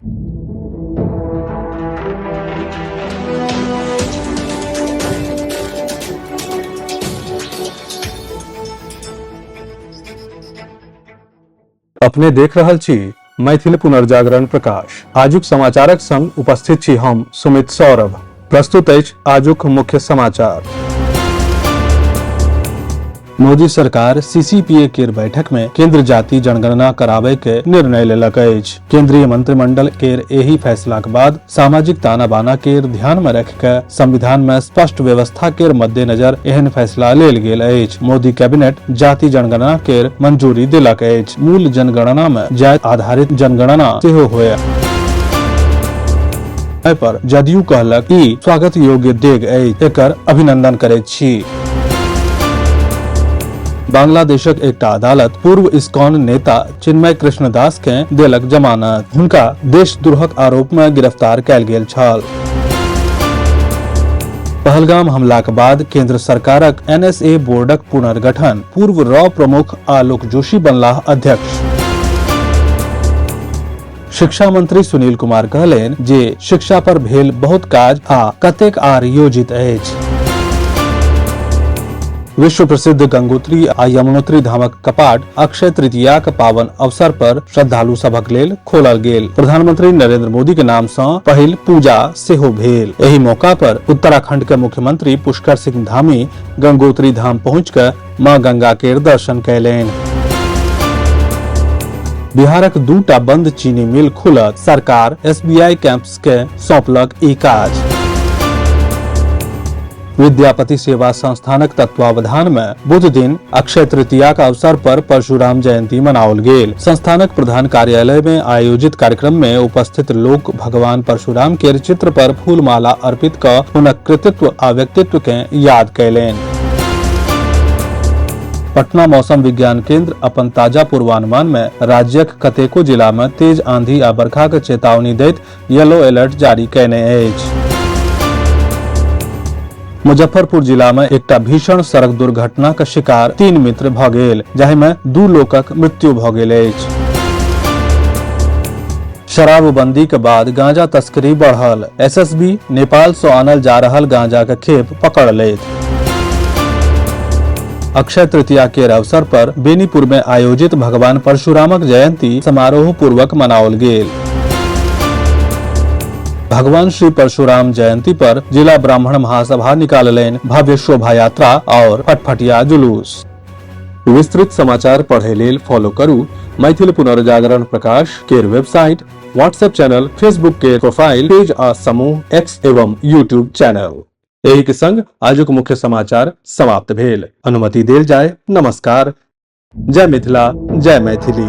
अपने देख रहल छी मैथिल पुनर्जागरण प्रकाश आजुक समाचारक संग उपस्थित छी हम सुमित सौरभ प्रस्तुत अछि आजुक मुख्य समाचार मोदी सरकार सीसीपीए केर बैठक में केंद्र जाति जनगणना कराबे के निर्णय लेलक अछि केंद्रीय मंत्रिमंडल केर एहि फैसलाक बाद सामाजिक ताना बाना केर ध्यान में रख के संविधान में स्पष्ट व्यवस्था केर मद्देनजर एहन फैसला लेल गेल अछि मोदी कैबिनेट जाति जनगणना केर मंजूरी देलक अछि मूल जनगणना में जाति आधारित जनगणना सेहो होयत एहि पर जदयू कहलक ई स्वागत योग्य डेग अछि एकर अभिनंदन करैत छी बांग्लादेशक एकटा अदालत पूर्व इस्कॉन नेता चिन्मय कृष्ण दास के देलक जमानत हुनका देशद्रोहक आरोप में गिरफ्तार कयल गेल छल पहलगाम हमलाक बाद केंद्र सरकारक एनएसए बोर्डक पुनर्गठन पूर्व रॉ प्रमुख आलोक जोशी बनलाह अध्यक्ष शिक्षा मंत्री सुनील कुमार कहलेन जे शिक्षा पर भेल बहुत काज आ कतेक आर योजित अछि विश्व प्रसिद्ध गंगोत्री आ यमुनोत्री धामक कपाट अक्षय तृतीयाक पावन अवसर पर श्रद्धालु सभक लेल खोलल गेल प्रधानमंत्री नरेंद्र मोदी के नाम से पहिल पूजा सेहो भेल एहि मौका पर उत्तराखंड के मुख्यमंत्री पुष्कर सिंह धामी गंगोत्री धाम पहुँच मां गंगा के दर्शन कैलेन बिहारक दूटा बंद चीनी मिल खुलत सरकार एसबीआई कैंप्स के सौंपलक ई काज विद्यापति सेवा संस्थानक तत्वावधान में बुध दिन अक्षय तृतीया का अवसर पर परशुराम जयंती मनाओल गेल संस्थानक प्रधान कार्यालय में आयोजित कार्यक्रम में उपस्थित लोग भगवान परशुराम के चित्र पर फूलमाला अर्पित क हुनक कृतित्व आ व्यक्तित्व के याद कैलेन पटना मौसम विज्ञान केंद्र अपन ताजा पूर्वानुमान में राज्यक कतेको जिला में तेज आंधी आ बरखाक चेतावनी दैत येलो अलर्ट जारी कयने अछि मुजफ्फरपुर जिला में एकटा भीषण सड़क दुर्घटनाक शिकार तीन मित्र भऽ गेल जाहि में दू लोकक मृत्यु भऽ गेल अछि शराबबंदी के बाद गांजा तस्करी बढ़ल एसएसबी नेपाल से आनल जा रहल गांजा के खेप पकड़ लेत अक्षय तृतीया के अवसर पर बेनीपुर में आयोजित भगवान परशुरामक जयंती समारोह पूर्वक मनाओल गेल भगवान श्री परशुराम जयंती पर जिला ब्राह्मण महासभा निकाललेन भव्य शोभा यात्रा और फटफटिया जुलूस विस्तृत समाचार पढ़े लेल फॉलो करू मैथिल पुनर्जागरण प्रकाश केर वेबसाइट व्हाट्सएप चैनल फेसबुक के प्रोफाइल पेज आ समूह एक्स एवं यूट्यूब चैनल एहि के संग आजुक मुख्य समाचार समाप्त भेल अनुमति देल जाय नमस्कार जय मिथिला जय मैथिली